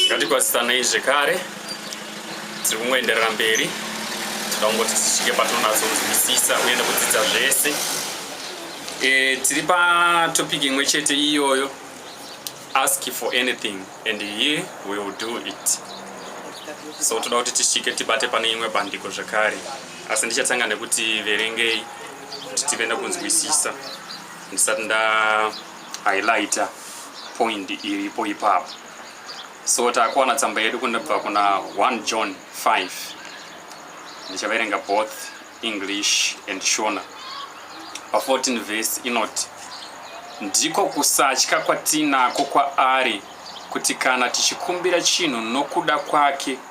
ngatikwasisanei zvekare tiri kungoenderera mberi tikangoti tisvike patonatsokunzwisisa uye nekudzidza zvese e, tiri patopic imwe chete iyoyo ask for anything and he will do it so toda kuti tisvike tibate pane imwe bandiko zvekare asi ndichatanga nekuti verengei kuti tive nekunzwisisa ndisati nda highlighter point iripo ipapo so takuwana tsamba yedu kunobva kuna 1 john 5 ndichaverenga both english and shona pa14 vhesi inoti ndiko kusatya kwatinako kwaari kuti kana tichikumbira chinhu nokuda kwake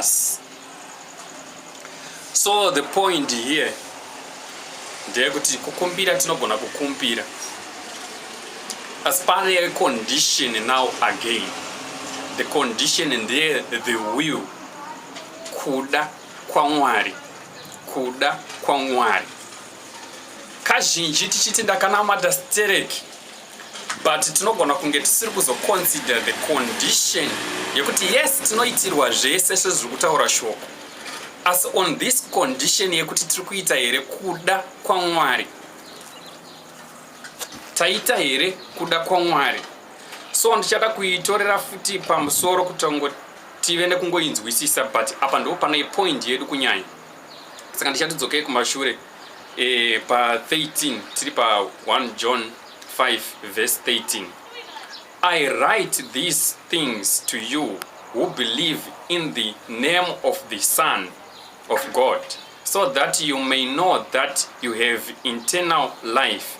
us so the point here ndeyekuti kukumbira tinogona kukumbira asi pane condition now again the condition ndeye the will kuda kwamwari kuda kwamwari kazhinji tichiti ndakanamata stereki but tinogona kunge tisiri kuzoconsider the condition yekuti yes tinoitirwa zvese sezviri kutaura shoko asi on this condition yekuti tiri kuita here kuda kwamwari taita here kuda kwamwari so ndichada kuitorera futi pamusoro kutongo tive nekungoinzwisisa but apa ndipo pane point yedu kunyanya saka ndichatidzokei kumashure E, pa 13 tiri pa 1 John 5 verse 13 I write these things to you who believe in the name of the Son of God so that you may know that you have internal life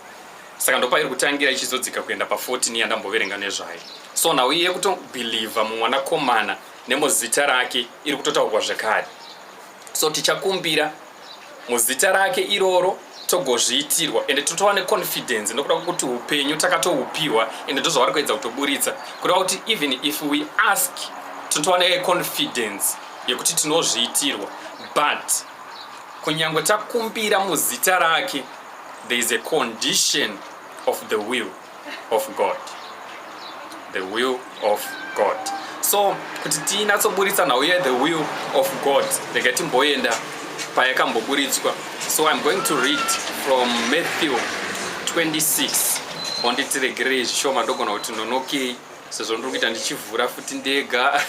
saka ndopairi kutangira ichizodzika kuenda pa 14 yandamboverenga nezvayo so nhau iye kutobhilivha mumwanakomana nemuzita rake iri kutotaurwa zvekare so tichakumbira muzita rake iroro togozviitirwa ende totova neconfidence nokuda kwokuti upenyu takatoupihwa ende ndozvavari kuedza kutoburitsa kureva kuti even if we ask totova neconfidence yekuti tinozviitirwa but kunyange takumbira muzita rake there is a condition of the will of god the will of god so kuti tinatsoburitsa nhau ye the will of god rega timboenda payakamboburitswa so iam going to read from matthew 26 onditiregerei zvishoma ndogona kuti nonokei sezvo ndiri kuita ndichivhura futi ndega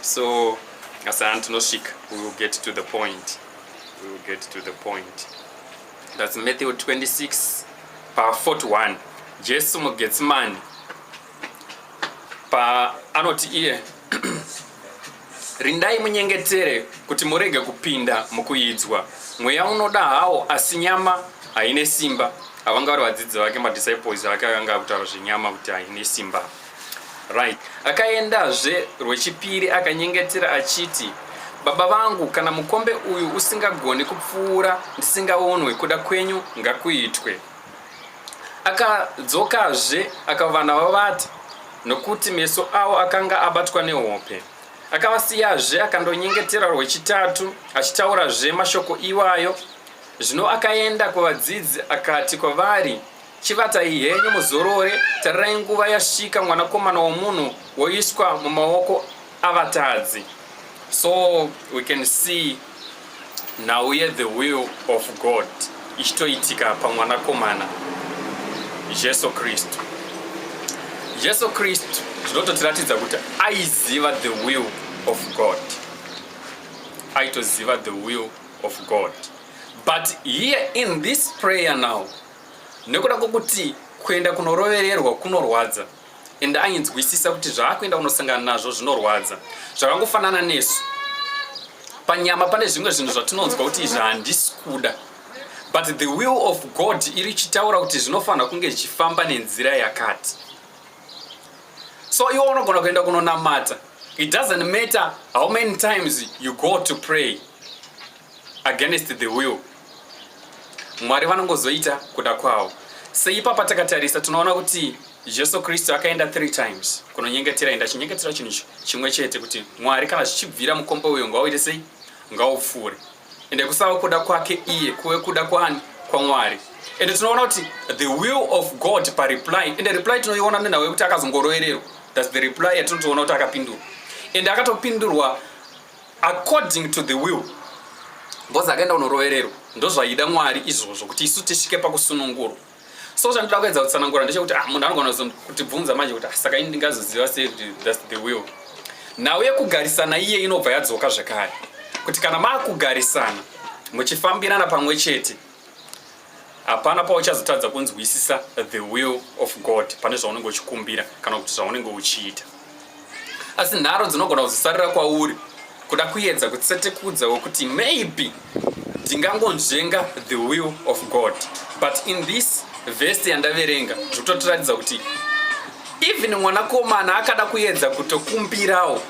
so asana tinosvika we will get to the point we will get to the point That's Matthew 26 pa 41 Jesu muGetsemani pa anoti iye rindai munyengetere kuti murege kupinda mukuidzwa mweya unoda hawo asi nyama haine simba avanga vari vadzidzi vake madisciples ake akanga akutaura zvenyama kuti haine simba Right. Akaendazve rwechipiri akanyengetera achiti, Baba vangu, kana mukombe uyu usingagoni kupfuura ndisingaonwe, kuda kwenyu ngakuitwe. Akadzokazve akavana vavati, nokuti meso avo akanga abatwa nehope. Akavasiyazve akandonyengetera rwechitatu achitaurazve mashoko iwayo. Zvino akaenda kuvadzidzi akati kwavari, Chivatai henyu muzorore, tarirai nguva yasvika mwanakomana womunhu woiswa mumaoko avatadzi. So we can see now here the will of God ichitoitika pamwanakomana Jesu Kristu. Jesu Kristu zvinototiratidza kuti aiziva the will of God. Aitoziva the will of God. But here in this prayer now nekuda kwekuti kuenda kunorovererwa kunorwadza and ainzwisisa kuti zvaakuenda kunosangana nazvo zvinorwadza zvakangofanana nesu panyama pane zvimwe zvinhu zvatinonzwa kuti izvi handisi kuda but the will of god iri chitaura kuti zvinofanira kunge zvichifamba nenzira yakati so iwo unogona kuenda kunonamata it doesn't matter how many times you go to pray against the will mwari vanongozoita kuda kwawo seipapa takatarisa tinoona kuti jesu kristu akaenda three times kunonyengetera enda chinyengetera chinhu chimwe chete kuti mwari kana zvichibvira mukombo uyo ngauite sei ngaupfuure ende kusava kuda kwake iye kuve kuda kwani kwamwari ende tinoona kuti the will of god pareply ende reply tinoiona nenhau yekuti akazongorovererwa thats the reply yatinotoona kuti akapindurwa ende akatopindurwa according to the will ngozi akaenda kunorovererwa ndozvaida mwari izvozvo kuti isu tisvike pakusunungurwa so chandoda kuedza kutsanangura ndechekuti ah, munhu anogona kutibvunza manje kuti ah, saka ini ndingazoziva sei kuti thats the will nhau yekugarisana iye inobva yadzoka zvekare kuti kana maakugarisana muchifambirana pamwe chete hapana pauchazotadza kunzwisisa the will of god pane zvaunenge uchikumbira kana kuti zvaunenge uchiita asi nharo dzinogona kuzisarira kwauri kuda kuyedza kutsetekudza wekuti maybe ndingangonzvenga the will of god but in this vhesti yandaverenga zvikutotiratidza kuti even mwanakomana akada kuyedza kutokumbirawo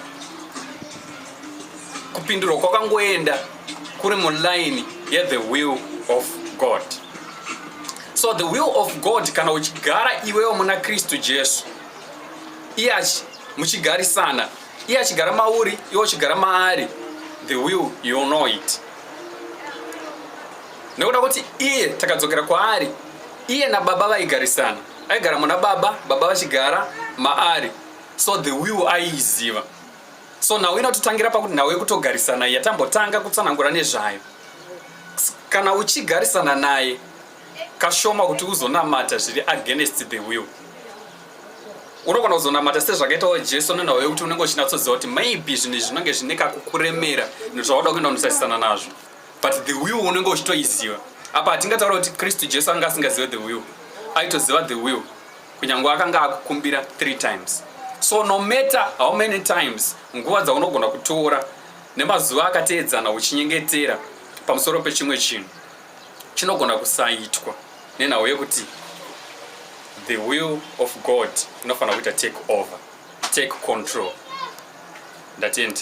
kupindurwa kwakangoenda kuri muline yethe will of god so the will of god kana uchigara iwewo muna kristu jesu iye muchigarisana iye achigara mauri iwe uchigara maari the will you know it nekuda kuti iye takadzokera kwaari iye nababa vaigarisana aigara muna baba baba vachigara maari so the will aiiziva so nhau inototangira pakuti nhau yekutogarisana iya tambotanga kutsanangura nezvayo kana uchigarisana naye kashoma kuti uzonamata zviri against the will unogona kuzonamata sezvakaitawo jesu nenhau yekuti unenge uchinatsoziva kuti maybe zvinhu izvi zvinenge zvine kakukuremera nezvauda kuenda kunotarisana nazvo but the will unenge uchitoiziva apa hatingataura kuti kristu jesu anga asingazive the will aitoziva the will Kunyangwe akanga akukumbira 3 times. So no matter how many times nguva dzaunogona kutora nemazuva akateedzana uchinyengetera pamusoro pechimwe chinhu chinogona kusaitwa nenhau yekuti the will of God inofanira kuita take over, take control. Ndatenda.